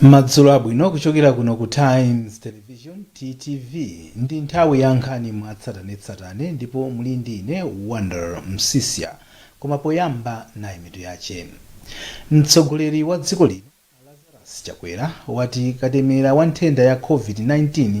madzulo abwino kuchokera kuno ku times television ttv ndi nthawi ya nkhani mwatsatanetsatane ndipo muli ndi ine wonder msisya koma poyamba nayi mitu yache mtsogoleri wa dziko lino lazarus chakwera wati katemera wa nthenda ya covid-19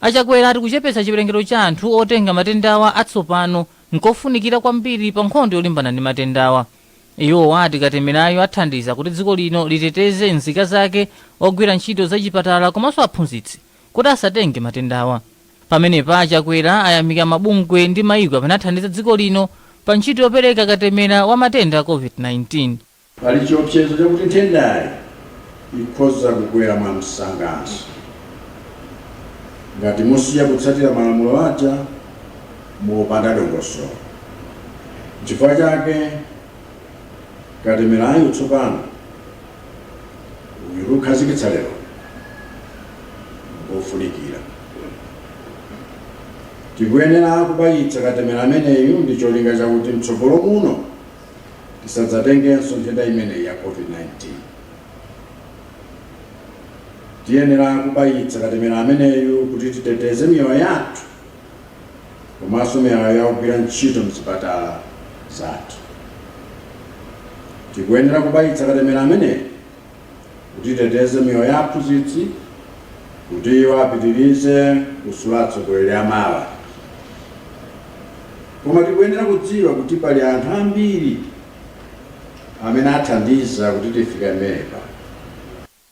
A Chakwera ati kuchepetsa chiwerengero cha anthu otenga matendawa atsopano nkofunikira kwambiri pa nkhondo yolimbana ndi matendawa. Iwo ati katemerayu athandiza kuti dziko lino liteteze nzika zake, ogwira ntchito za chipatala komanso aphunzitsi kuti asatenge matendawa. Pamenepa a Chakwera ayamika mabungwe ndi maiko amene athandiza dziko lino pa ntchito yopereka katemera wa matenda a Covid-19. Pali chiopsezo chakuti nthendayi ikhoza kukwera mwamsanganso ngati musiya kutsatira malamulo aja mopanda dongosolo. Nchifukwa chake katemerayu tsopano uyu tikukhazikitsa lero ngofunikira. Tikuyenera kubayitsa katemera ameneyu ndi cholinga chakuti mtsogolo muno tisadzatengenso nthenda imeneyi ya COVID-19. Tiyenera kubayitsa katemera ameneyu kuti titeteze miyoyo yathu komanso miyoyo ya ogwira ntchito mzipatala zathu. Tikuyenera kubayitsa katemera ameneyu kuti titeteze miyoyo ya aphunzitsi kuti iwo apitirize kusula atsogoleri a mawa. Koma tikuyenera kudziwa kuti pali anthu ambiri amene athandiza kuti tifike pamenepa.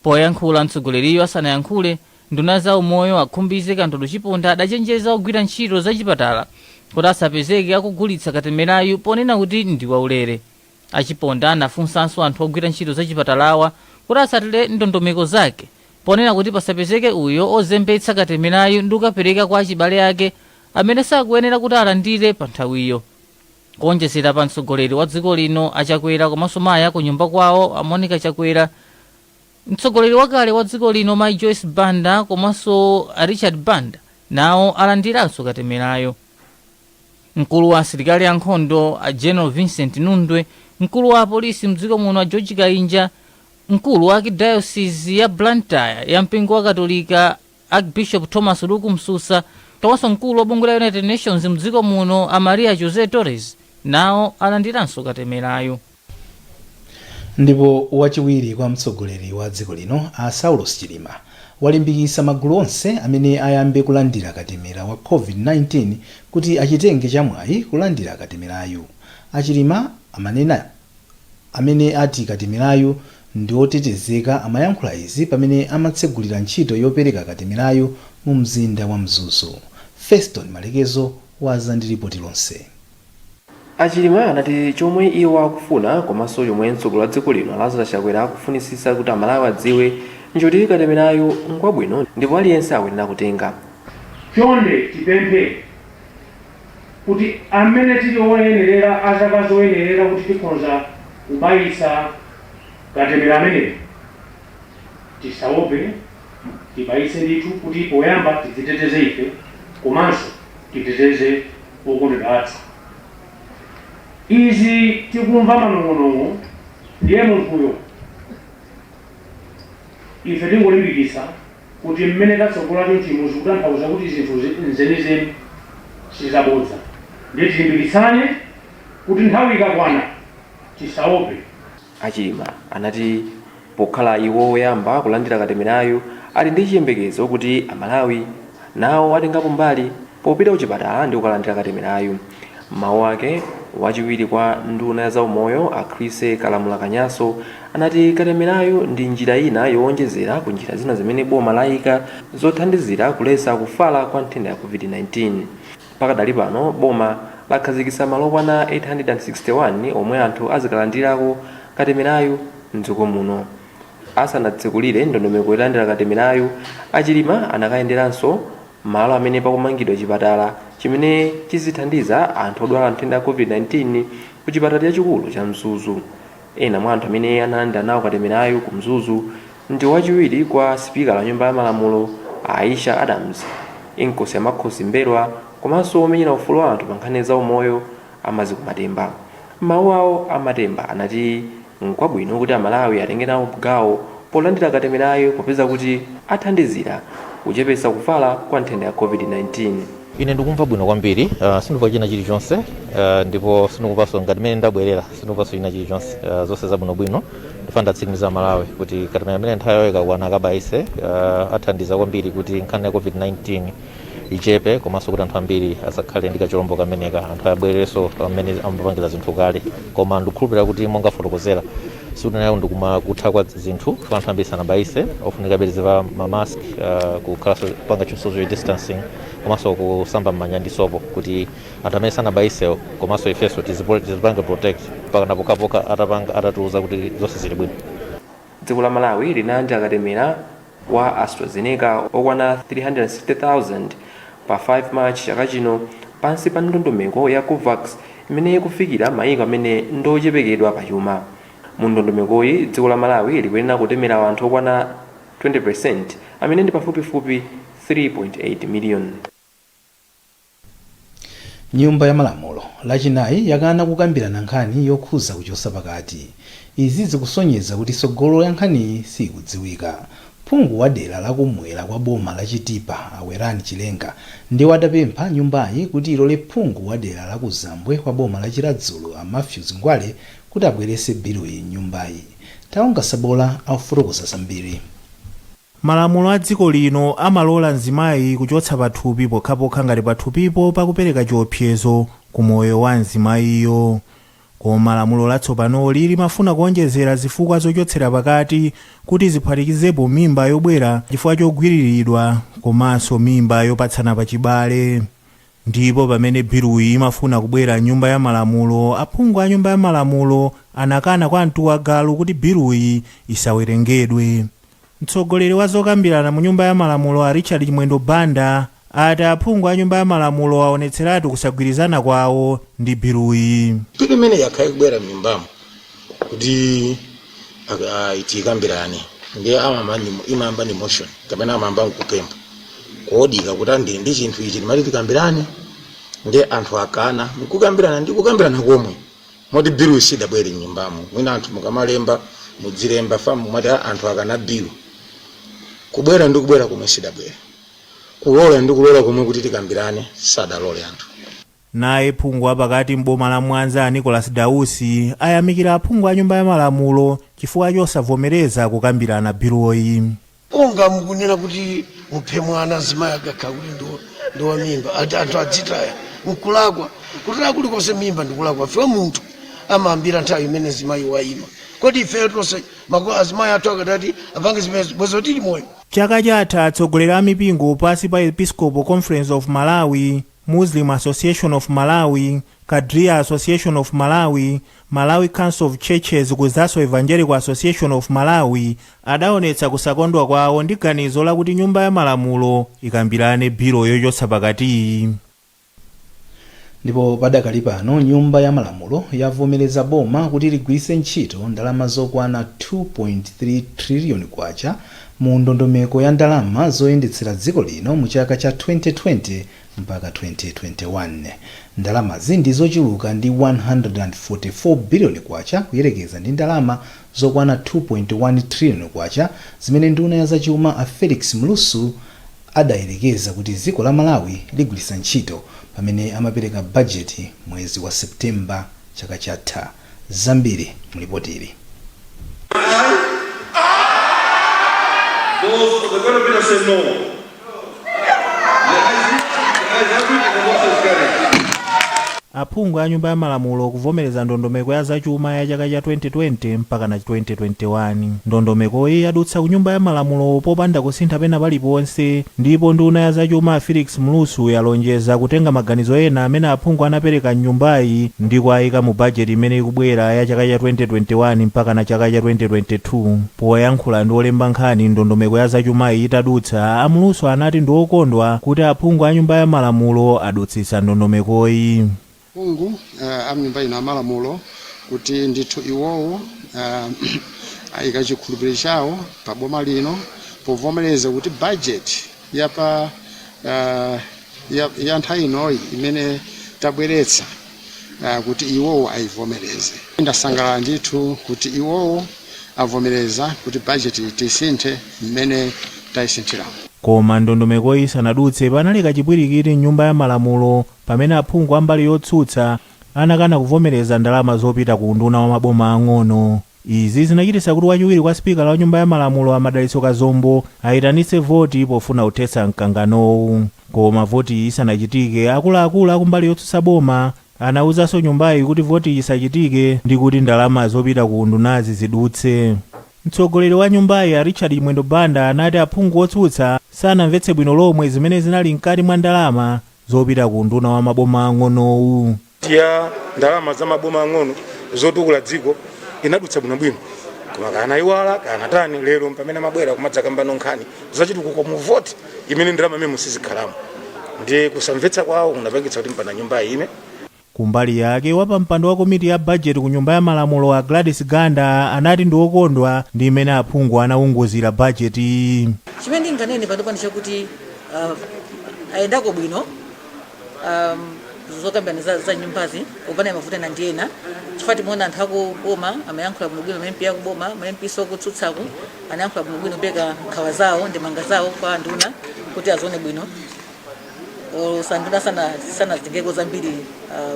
Poyankhula mtsogoleriyu asanayankhule nduna ya za umoyo a Khumbize Kandodo Chiponda adachenjeza ogwira ntchito za chipatala kuti asapezeke akugulitsa katemerayu ponena kuti ndi waulere. A Chiponda anafunsanso anthu ogwira ntchito za chipatalawa kuti atsatire ndondomeko zake ponena kuti pasapezeke uyo ozembetsa katemerayu ndikukapereka kwa achibale ake amene sakuyenera kuti alandire pa nthawiyo. Kuonjezera pa mtsogoleri wa dziko lino a Chakwera komanso mayi a ku nyumba kwawo a Monica Chakwera, mtsogoleri wakale wa dziko lino mayi Joyce Banda komanso a Richard Banda nawo alandiranso katemerayo. Mkulu wa asilikali a nkhondo a General Vincent Nundwe, mkulu wa apolisi mdziko muno a George Kainja, mkulu wa Arkidayosizi ya Blantyre ya mpingo wa katolika Archbishop Thomas Luke Msusa komanso mkulu wa bungwe la United Nations mdziko muno a Maria José Torres nawo alandiranso katemerayu. Ndipo wachiwiri kwa mtsogoleri wa dziko lino a Saulos Chilima walimbikitsa magulu onse amene ayambe kulandira katemera wa Covid-19 kuti achitenge cha mwayi kulandira katemerayu. A Chilima amene ati katemerayu ndi otetezeka amayankhula izi pamene amatsegulira ntchito yopereka katemerayu mu mzinda wa Mzuzu. Feston Malekezo waza ndi lipoti lonse. A Chilima anati chomwe iwo akufuna komanso chomwe mtsogoleri wa dziko lino a Lazarus Chakwera akufunitsitsa kuti aMalawi adziwe nchoti katemerayu ngwabwino ndipo aliyense akuyenera kutenga. Chonde tipemphe kuti amene tili oyenerera, a zaka zoyenerera kuti tikhonza kubayitsa katemera ameneyu, tisaope tibayitse ndithu kuti poyamba tidziteteze ife komanso titeteze Okondedwa athu izi tikumva manong'onong'o ndiye munthuyo ife tingolimbikitsa kuti mmene tatsogola chonchimu zikutanthauza kuti zinthu nzenizeni sizabodza ndiye tilimbikitsane kuti nthawi ikakwana tisaope. A Chilima anati pokhala iwo woyamba kulandira katemerayu ali ndi chiyembekezo kuti a Malawi nawo atengapo mbali popita kuchipatala ndi kukalandira katemerayu. M'mawu ake, wachiwiri kwa nduna ya zaumoyo a Chrissie Kalamula Kanyasho anati katemerayu ndi njira ina yowonjezera ku njira zina zimene boma layika zothandizira kuletsa kufala kwa nthenda ya Covid-19. Pakadali pano boma lakhazikitsa malo okwana 861 omwe anthu azikalandirako katemerayu m'dziko muno. Asanatsekulire ndondomeko yolandira katemerayu, a Chilima anakayenderanso malo amene pakumangidwa chipatala chimene chizithandiza anthu odwala nthenda ya Covid-19 ku chipatala chachikulu cha Mzuzu. Ena mwa anthu amene analandira nawo katemerayu ku Mzuzu ndi wachiwiri kwa sipikala wa nyumba ya malamulo a Aisha Adams, Inkosi ya Makhosi M'mbelwa komanso womenyera ufulu wa anthu pa nkhani ya zaumoyo a Maziko Matemba. M'mawu awo, a Matemba anati nkwabwino kuti Amalawi atenge nawo gawo polandira katemerayu popeza kuti athandizira kuchepetsa kufala kwa nthenda ya Covid-19. Ine ndikumva bwino kwambiri uh, sindikumva china chilichonse uh, ndipo sindikumvanso ngati mmene ndabwerera sindikumvanso china chilichonse uh, zonse zabwinobwino ndifuna nditsimikize Amalawi kuti katemera amene nthawi yawo ikakwana akabayise uh, athandiza kwambiri kuti nkhani ya covid-19 ichepe komanso kuti anthu ambiri asakhale ndi kachilombo kameneka anthu abwererenso mmene amapangira zinthu kale koma ndikukhulupirira kuti monga afotokozera sikuti nayo ndikuma kutha kwa zinthu fo anthu ambiri sanabayise ofunikabe tizivala ma mask uh, kukhalanso kupanga chi- social distancing komanso kusamba mmanja ndi sopo kuti anthu amene sanabayisewo komanso ifenso tizipo- tizipange protect mpaka napokapoka atapanga atatiuza kuti zonse zili bwino dziko la malawi linalandira katemera wa AstraZeneca okwana 360,000 pa 5 March chaka chino pansi pa ndondomeko ya Covax imene ikufikira maiko amene ndiochepekedwa pa chuma. Mu ndondomekoyi, dziko la Malawi likuyenera kutemera anthu okwana 20% amene ndi pafupifupi 3.8 million. Nyumba ya malamulo lachinayi yakana kukambirana nkhani yokhuza kuchosa pakati. Izi zikusonyeza kuti tsogolo ya nkhaniyi siyikudziwika. Phungu wa dera la kum'mwera kwa boma la Chitipa a Werani Chilenga ndiwo adapempha nyumbayi kuti ilole phungu wa dera la kumzambwe kwa boma la Chiradzulu a Mathews Ngwale kuti abwerese biluyi m'nyumbayi. Taonga Sabola akufotokoza zambiri. Malamulo a dziko lino amalola mzimayi kuchotsa pathupi pokhapokha ngati pathupipo pakupereka chiopsezo ku moyo wa mzimayiyo. Koma lamulo latsopanoli limafuna kuonjezera zifukwa zochotsera pakati kuti ziphatikizepo mimba yobwera chifukwa chogwiriridwa komanso mimba yopatsana pachibale. Ndipo pamene biluyi imafuna kubwera m'nyumba ya malamulo, aphungu a nyumba ya malamulo anakana kwa mtu wa galu kuti biluyi isawerengedwe. Mtsogoleri wa zokambirana mu nyumba ya malamulo a Richard Chimwendo Banda ati aphungu a nyumba ya malamulo aonetseratu kusagwirizana kwawo ndi biluyi. Bilu imeneyi yakhala ikubwera m'nyumbamu kuti uh, tikambirane ndiye amayamba ndi- imayamba ndi motion kapena amayamba nkupempha koduka kuti ndi ndi chinthu ichi timati tikambirane ndiye anthu akana nkukambirana ndi kukambirana komwe moti bilu sidabwere m'nyumbamo mwina anthu mukamalemba mudzilemba fa mumati "Ah, anthu akana bilu kubwera ndi kubwera komwe sidabwere kulola ndi kulola komwe kuti tikambirane sadalole anthu Naye phungu wa pakati m'boma la Mwanza a Nicholas Dausi ayamikira aphungu a nyumba ya malamulo chifukwa chosavomereza kukambirana biluyi. Monga mukunena kuti muphe mwana mzimayi akakhala kuti ndi wa mimba anthu adzitaya nkulakwa kutaya kulikonse mimba ndikulakwa chifukwa munthu amayambira nthawi imene mzimayi waima kodi ifeyo tonse azimayi athu akadati apange zimenezo bwezi tili moyo Chaka chatha atsogoleri a mipingo pansi pa Episcopal Conference of Malawi, Muslim Association of Malawi, Qadria Association of Malawi, Malawi Council of Churches kudzanso Evangelical Association of Malawi adaonetsa kusakondwa kwawo ndi ganizo lakuti Nyumba ya Malamulo ikambirane bilo yochotsa pakatiyi. Ndipo padakali pano Nyumba ya Malamulo yavomereza boma kuti ligwiritse ntchito ndalama zokwana K2.3 triliyoni mu ndondomeko ya ndalama zoyendetsera dziko lino mu chaka cha 2020-2021. Ndalamazi ndi zochuluka ndi K144 biliyoni kuyerekeza ndi ndalama zokwana K2.1 triliyoni zimene nduna ya zachuma a Felix Mlusu adayerekeza kuti dziko la Malawi ligwiritsa ntchito pamene amapereka bajeti mwezi wa September chaka chatha. zambiri mu lipotili. Aphungu a Nyumba ya Malamulo kuvomereza ndondomeko ya zachuma ya chaka cha 2020 mpakana 2021. Ndondomekoyi yadutsa ku Nyumba ya Malamulo popanda kusintha pena paliponse Ndipo nduna ya zachuma Felix Mlusu yalonjeza kutenga maganizo ena amene aphungu anapereka m'nyumbayi ndi kuwaika mu bajeti imene ikubwera ya chaka cha 2021 mpakana chaka cha 2022. Poyankhula ndi olemba nkhani ndondomeko ya zachumayi itadutsa, a Mlusu anati ndiokondwa kuti aphungu a nyumba ya malamulo adutsitsa ndondomekoyi. Aphungu a mnyumba ino amalamulo kuti ndithu iwowo ayika chikhulupiliro chawo pa boma lino povomereza kuti bajeti ya pa ya nthawi inoyi imene tabweretsa kuti iwowo ayivomereze. Ndasangalala ndithu kuti iwowo avomereza kuti bajeti tisinthe mmene tayisinthiramu. Koma ndondomekoyi isanadutse, panali kachipwirikiti m'nyumba ya malamulo Pamene aphungu a mbali yotsutsa anakana kuvomereza ndalama zopita ku unduna wa maboma ang'ono. Izi zinachititsa kuti wachiwiri kwa sipikala wa nyumba ya malamulo a Madalitso Kazombo ayitanitse voti pofuna kuthetsa mkanganowu. Koma votiyi isanachitike akuluakulu a kumbali yotsutsa boma anawuzanso nyumbayi kuti votiyi isachitike ndi kuti ndalama zopita ku undunazi zidutse. Mtsogoleri wa nyumbayi a Richard Chimwendo Banda anati aphungu otsutsa sanamvetse bwino lomwe zimene zinali mkati mwa ndalama zopita ku unduna wa maboma ang'onowu. ya ndalama za maboma ang'ono zotukula dziko inadutsa bwinobwino koma kanaiwala kanatani lero mpamene amabwera kumadzakambano nkhani zachitukuko mu voti imene ndalama imene mosizikhalamo ndi kusamvetsa kwawo kunapangitsa kuti mpana nyumbayi ime Kumbali yake, wapampando wa komiti ya bajeti ku Nyumba ya Malamulo a Gladys Ganda anati ndi okondwa ndi mmene aphungu anaunguzira bajeti. Chimene ndinganene panopa ndi chakuti uh, zayendako bwino um, zokambirana za, za m'nyumbazi opanda mavuto ena ndi ena chifukwa timaona anthu akuboma amayankhula bwinobwino ma MP akuboma ma MP nso akutsutsaku anayankhula bwinobwino kupereka nkhawa zawo ndemanga zawo kwa anduna kuti azione bwino olo anduna sana sanasintheko zambiri ah,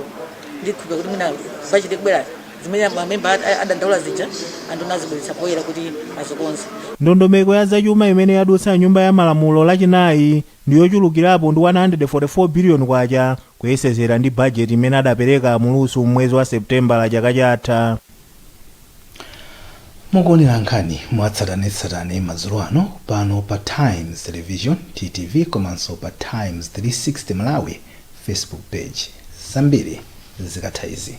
ndikhulupirira kuti mwina bajeti ikubwera zimene mamemba ad- adandaula zija anduna azibweretsa poyera kuti azikonze ndondomeko ya zachuma imene yadutsa m'nyumba ya malamulo lachinayi ndi yochulukirapo ndi 144 biliyoni kwacha kuyerekezera ndi bajeti imene adapereka mlusu m'mwezi wa seputembala chaka chatha mukuonera nkhani mwatsatanetsatane madzulo ano pano pa times television ttv komanso pa times 360 malawi facebook page zambiri zikatha izi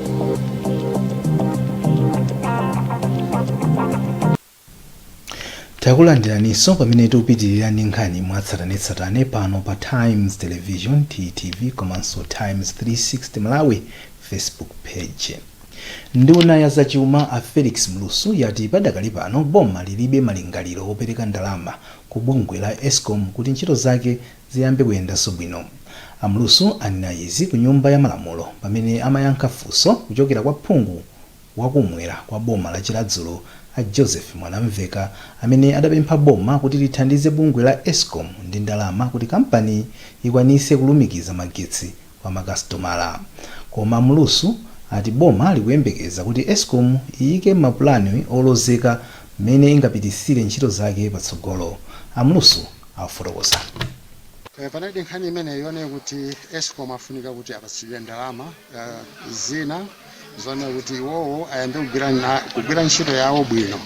takulandiraninso pamene tikupitirira ndi nkhani mwatsatanetsatane pano pa times television ttv komanso times 360 malawi facebook page nduna ya zachuma a felix mlusu yati padakali pano boma lilibe malingaliro opereka ndalama ku bungwe la escom kuti ntchito zake ziyambe kuyendanso bwino. A Mlusu anena izi ku nyumba ya malamulo pamene amayankha funso kuchokera kwa phungu wa kum'mwera kwa boma la Chiradzulu a Joseph Mwanamveka amene adapempha boma kuti lithandize bungwe la Escom ndi ndalama kuti kampani ikwanise kulumikiza magetsi kwa makasitomala. Koma a Mlusu ati boma likuyembekeza kuti Escom iyike mapulani olozeka mmene ingapititsire ntchito zake patsogolo. A Mlusu akufotokoza. Panalidi nkhani imeneyo yonena kuti Escom afunika kuti apatsidwe ndalama zina. zonena kuti iwowo ayambe kugwira na- kugwira ntchito yawo bwino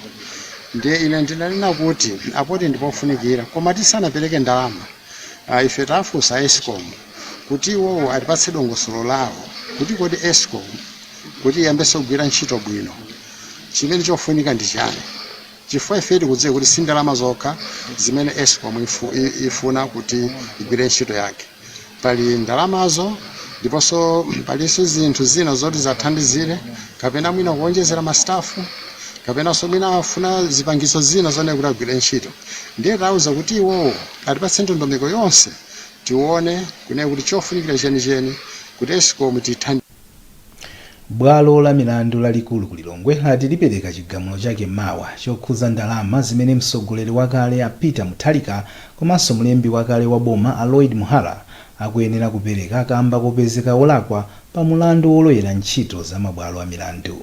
ndiye ine ndinanena kuti apodi ndipofunikira koma tisanapereke ndalama ah, ife tafunsa escom kuti iwowo atipatse dongosolo lawo kuti kodi escom kuti iyambenso kugwira ntchito bwino chimene chofunika ndi chani chifukwa ife tikudziwa kuti si ndalama zokha zimene escom ifu- i- ifuna kuti igwire ntchito yake pali ndalamazo ndiponso palinso zinthu zina zoti zathandizire kapena mwina kuonjezera mastafu kapenanso mwina afuna zipangizo zina zonena kuti agwire ntchito ndiye tauza kuti iwowo atipatse ndondomeko yonse tione kunena kuti chofunikira chenicheni kuti escom tithandize Bwalo la milandu lalikulu ku Lilongwe lati lipereka chigamulo chake mawa chokhuza ndalama zimene mtsogoleri wakale a Peter Mutharika komanso mlembi wakale wa boma a Lloyd Muhara akuyenera kupereka kamba kopezeka olakwa pa mulandu wolowerera ntchito za mabwalo a milandu.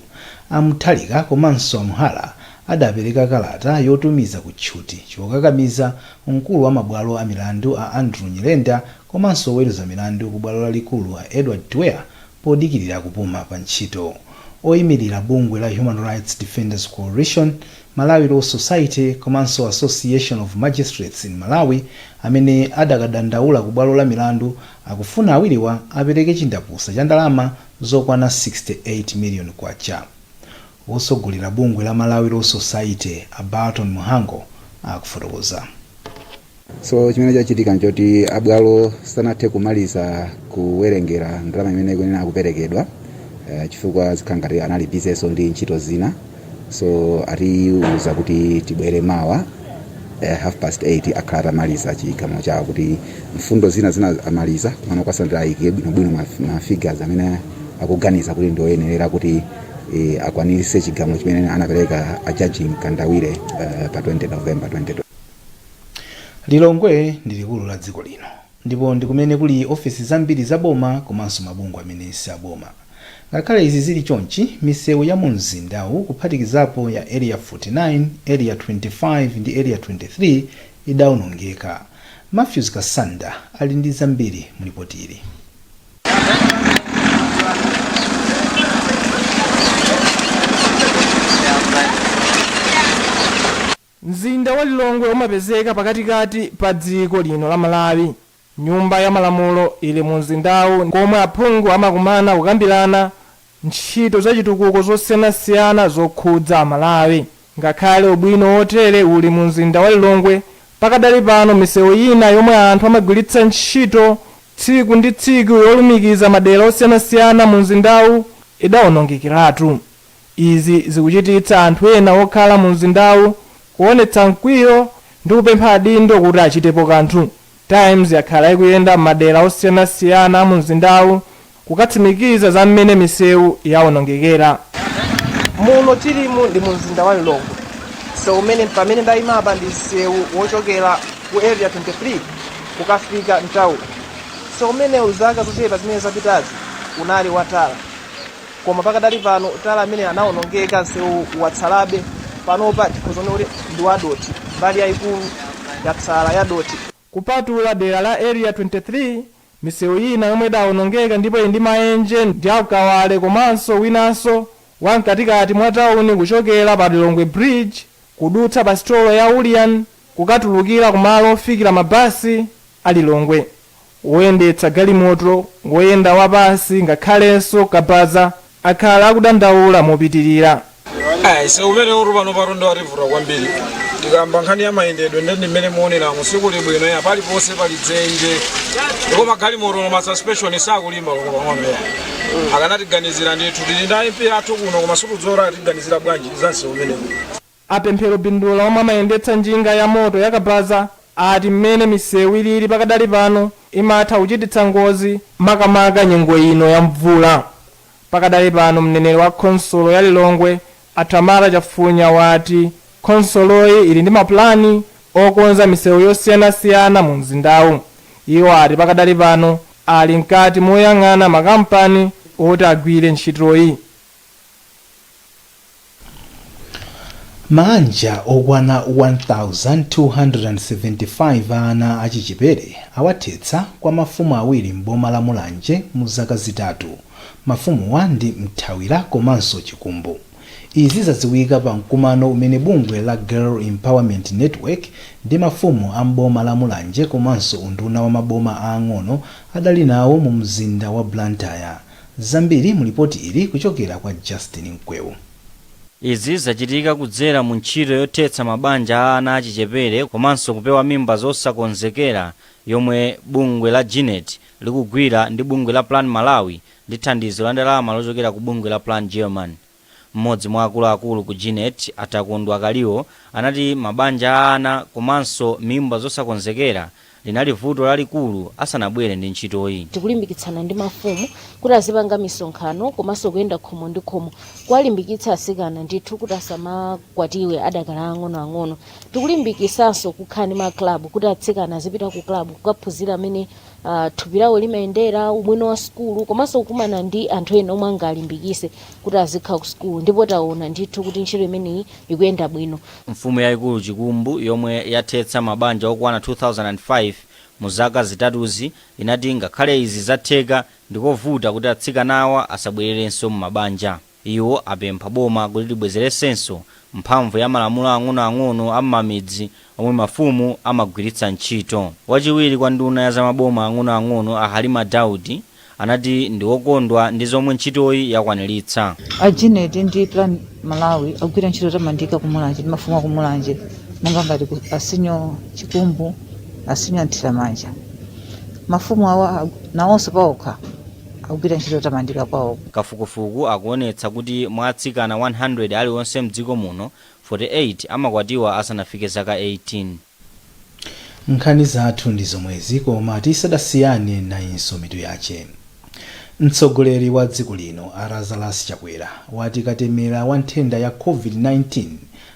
A Mutharika komanso a Muhara adapereka kalata yotumiza ku tchuthi chokakamiza mkulu wa mabwalo a milandu a Andrew Nyirenda komanso oweruza milandu ku bwalo lalikulu a Edward Twea podikirira kupuma pa ntchito. Oyimirira bungwe la Human Rights Defenders Coalition, Malawi Law Society komanso Association of Magistrates in Malawi amene adakadandaula ku bwalo la milandu akufuna awiriwa apereke chindapusa cha ndalama zokwana K68 million. Wotsogolera bungwe la Malawi Law Society, a Burton Mhango, akufotokoza. So chimene chachitika nchoti a bwalo sanathe kumaliza kuwerengera ndalama imene ikuyenera kuperekedwa eh, chifukwa zikhala ngati anali busy-nso ndi ntchito zina so atiuza kuti tibwere mawa eh, half past 8 akhala atamaliza chigamulo chawo kuti mfundo zina zina amaliza koma kwatsalira ayike bwinobwino ma ma figures amene akuganiza kuti ndi oyenerera kuti e, akwaniritse chigamulo chimene anapereka a judge mkandawire uh, pa 20 november 2020 lilongwe ndi likulu la dziko lino ndipo ndi kumene kuli ofisi zambiri za boma komanso mabungwe amene si aboma ngakhale izi zili chonchi misewu ya mu mzindawu kuphatikizapo ya area 49 area 25 ndi area 23 idawonongeka matthews kasanda ali ndi zambiri mulipotili Mzinda wa Lilongwe umapezeka pakatikati pa dziko lino la Malawi. Nyumba ya Malamulo ili mu mzindawu komwe aphungu amakumana kukambirana ntchito zachitukuko zosiyanasiyana zokhudza Amalawi. Ngakhale ubwino wotere uli mu mzinda wa Lilongwe, pakadali pano misewu ina yomwe anthu amagwiritsa ntchito tsiku ndi tsiku yolumikiza madera osiyanasiyana mu mzindawu idawonongekeratu. Izi zikuchititsa anthu ena okhala mu mzindawu kuonetsa mkwiyo ndi kupempha adindo kuti achitepo kanthu. Times yakhala ikuyenda m'madera osiyanasiyana a mu mzindawu kukatsimikiza za mmene misewu yawonongekera. Muno tilimu ndi mu mzinda wa Lilongwe. Msewu umene pamene ndayima apa ndi msewu wochokera ku Area 23 kukafika m'tauni. Msewu umenewu zaka zochepa zimene zapitazi unali wa tala. Koma pakadali pano tala ameneyu anaonongeka msewu watsalabe panopa tikhoza kunena kuti ndi wadothi mbali yaikulu yatsala yadothi. Kupatula dera la Area 23 misewu ina yomwe idaonongeka ndipo ili ndi maenje ndi ya ku Kawale komanso winanso wa mkatikati mwa tauni kuchokera pa Lilongwe Bridge kudutsa pa sitolo ya Ulian kukatulukira kumalo ofikira mabasi a Lilongwe Woyendetsa galimoto, woyenda wapansi, ngakhalenso kabaza akhala akudandaula mopitirira. Msewu umenewutu panopatu nde wativuta kwambiri. Tikakamba nkhani ya mayendedwe nde ndi mmene mukuoneramu, sikuli bwino ya, paliponse pali dzenje. Ndipo magalimoto olo ma suspension sakulimba olo pang'ono ya. Akanatiganizira ndithu, tili ndi a MP athu kuno koma sitikudziwa kuti akutiganizira bwanji za msewu umenewu. A Pemphero Bindula omwe amayendetsa njinga ya moto ya kabaza ati mmene misewu ilili pakadali pano imatha kuchititsa ngozi makamaka nyengo ino ya mvula. Pakadali pano mneneri wa khonsolo ya Lilongwe a Tamara Chafunya wati khonsoloyi ili ndi mapulani okonza misewu yosiyanasiyana mu mzindawu. Iwo ati pakadali pano ali mkati moyang'ana makampani oti agwire ntchitoyi. Maanja okwana 1,275 a ana achichipere awathetsa kwa mafumu awiri m'boma la Mulanje mu zaka zitatu. Mafumuwa ndi Mthawira komanso Chikumbu. Izi zadziwika pa mkumano umene bungwe la Girl Empowerment Network ndi mafumu a m'boma la Mulanje komanso unduna wa maboma aang'ono adali nawo mu mzinda wa Blantyre. Zambiri mu lipoti ili kuchokera kwa Justin Mkwewu. Izi zachitika kudzera mu ntchito yothetsa mabanja a ana achichepere komanso kupewa mimba zosakonzekera yomwe bungwe la Genet likugwira ndi bungwe la Plan Malawi ndi thandizo la ndalama lochokera ku bungwe la Plan Germany. M'modzi mwa akuluakulu ku Genet, a Takondwa Kaliwo, anati mabanja a ana komanso mimba zosakonzekera linali vuto lalikulu asanabwere ndi ntchitoyi. Tikulimbikitsana ndi mafumu kuti azipanga misonkhano komanso kuyenda khomo ndi khomo kuwalimbikitsa asikana ndithu kuti asamakwatiwe adakali aang'ono ang'ono. Tikulimbikisanso kukhala ndi ma club kuti atsikana azipita ku club kukaphunzira mene uh, thupi lawo limayendera, ubwino wa sukulu komanso kukumana ndi anthu ena omwe angalimbikise kuti azikhala ku sukulu, ndipo taona ndithu kuti ntchito imeneyi ikuyenda bwino. Mfumu yaikulu Chikumbu yomwe yathetsa mabanja okwana 2005 mu zaka zitatuzi inati ngakhale izi zatheka, ndikovuta kuti atsikanawa asabwererenso m'mabanja. Iwo apempha boma kuti libwezeretsenso mphamvu ya malamulo ang'onoang'ono a m'mamidzi omwe mafumu amagwiritsa ntchito. Wachiwiri kwa nduna ya za maboma ang'onoang'ono a Halima Daudi anati ndi wokondwa ndi zomwe ntchitoyi yakwaniritsa. A GENET ndi Plan Malawi agwira ntchito yotamandika ku Mulanje ndi mafumu a ku Mulanje monga ngati a Senior Chikumbu, a Senior Nthiramanja. Mafumu awa nawonso paokha, akugwira ntchito yotamandika kwawoko. Kafukufuku akuonetsa kuti mwa atsikana 100 alionse mdziko muno, 48 amakwatiwa asanafike zaka 18. Nkhani zathu ndi zomwezi koma tisadasiyane nayinso mitu yache. Mtsogoleri wa dziko lino a Lazarus Chakwera wati katemera wa nthenda ya Covid 19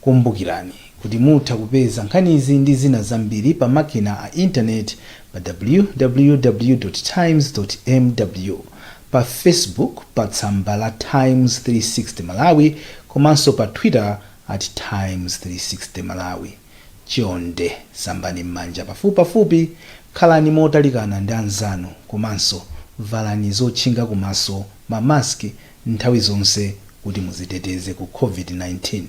Kumbukirani kuti mutha kupeza nkhanizi ndi zina zambiri pa makina a intaneti pa www. Times. mw, pa Facebook pa tsamba la Times 360 Malawi komanso pa Twitter at Times 360 Malawi. Chonde sambani m'manja pafupipafupi, khalani motalikana ndi anzanu komanso valani zotchinga kumaso, ma mask, nthawi zonse kuti muziteteze ku COVID-19.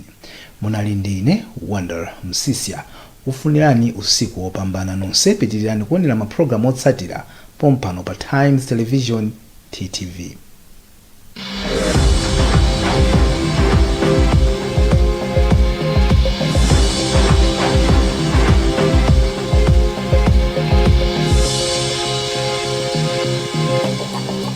Munali ndi ine Wonder Msiska kufunirani usiku wopambana nonse pitilirani kuonera ma program otsatira pompano pa Times Television, TTV.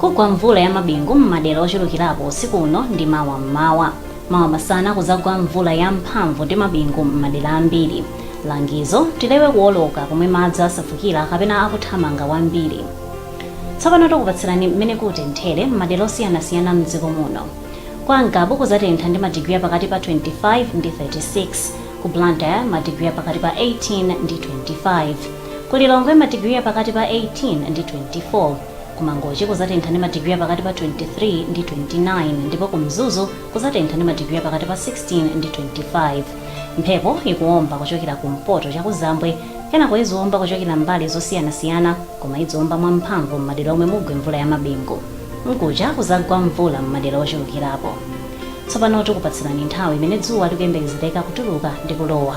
Kugwa mvula ya mabingu m'madera ochulukirapo usiku uno ndi mawa m'mawa. Mawa masana kuzagwa mvula ya mphamvu ndi mabingu m'madera ambiri. Langizo, Tilewe kuwoloka komwe madzi asefukira kapena akuthamanga kwambiri. Tsopano tikupatsirani m'mene kutenthere m'madera osiyanasiyana m'dziko muno. Kwa Ngabu kuzatentha ndi ma digiri apakati pa 25 ndi 36, ku Blantyre ma digiri apakati pa 18 ndi 25, ku Lilongwe ma digiri apakati pa 18 ndi 24, Ku Mangochi kuzatentha ndi madigiri a pakati pa 23 ndi 29 ndipo ku Mzuzu kuzatentha ndi madigiri a pakati pa 16 ndi 25. Mphepo ikuomba kuchokera kumpoto chakuzambwe kenako iziomba kuchokera mbali zosiyanasiyana koma idziomba mwamphamvu m'madera omwe mugwe mvula yamabingu. Mkuja kuzagwa mvula m'madera ochulukirapo. Tsopano tikupatsirani nthawi imene dzuwa likuyembekezereka kutuluka ndi kulowa.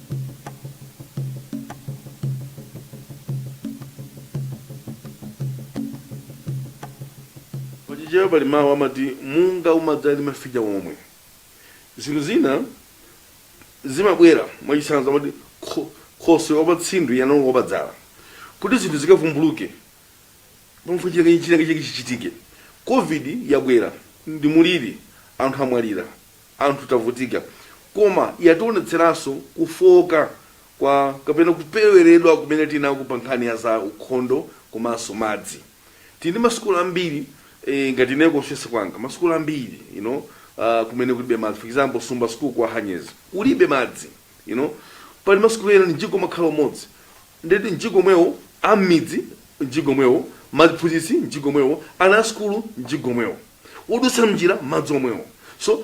Pa Chichewa pali mawu amati, Munga umadza ndi mafinya omwe. Zinthu zina zimabwera, mwachitsanzo amati, Khoswe wa patsindwi anaulula wa padzala. Kuti zinthu zikavumbuluke pamafunika chinachake chichitike. Covid yabwera ndi muliri, anthu amwalira. anthu tavutika koma yationetseranso kufooka kwa kapena kupeweredwa kumene tili nako pa nkhani ya za ukhondo komanso madzi. Tili ndi masukulu ambiri eh, ngati ineyo ku constituency kwanga masukulu ambiri you know, uh, kumene kulibe madzi for example Sumba school kwa Hanyezi kulibe madzi you know, pali masukulu ena mjigo umakhala umodzi ndeti mjigo omwewo am'midzi mjigo omwewo maphunzitsi mjigo omwewo ana a sukulu mjigo omwewo odutsa mnjira madzi omwewo so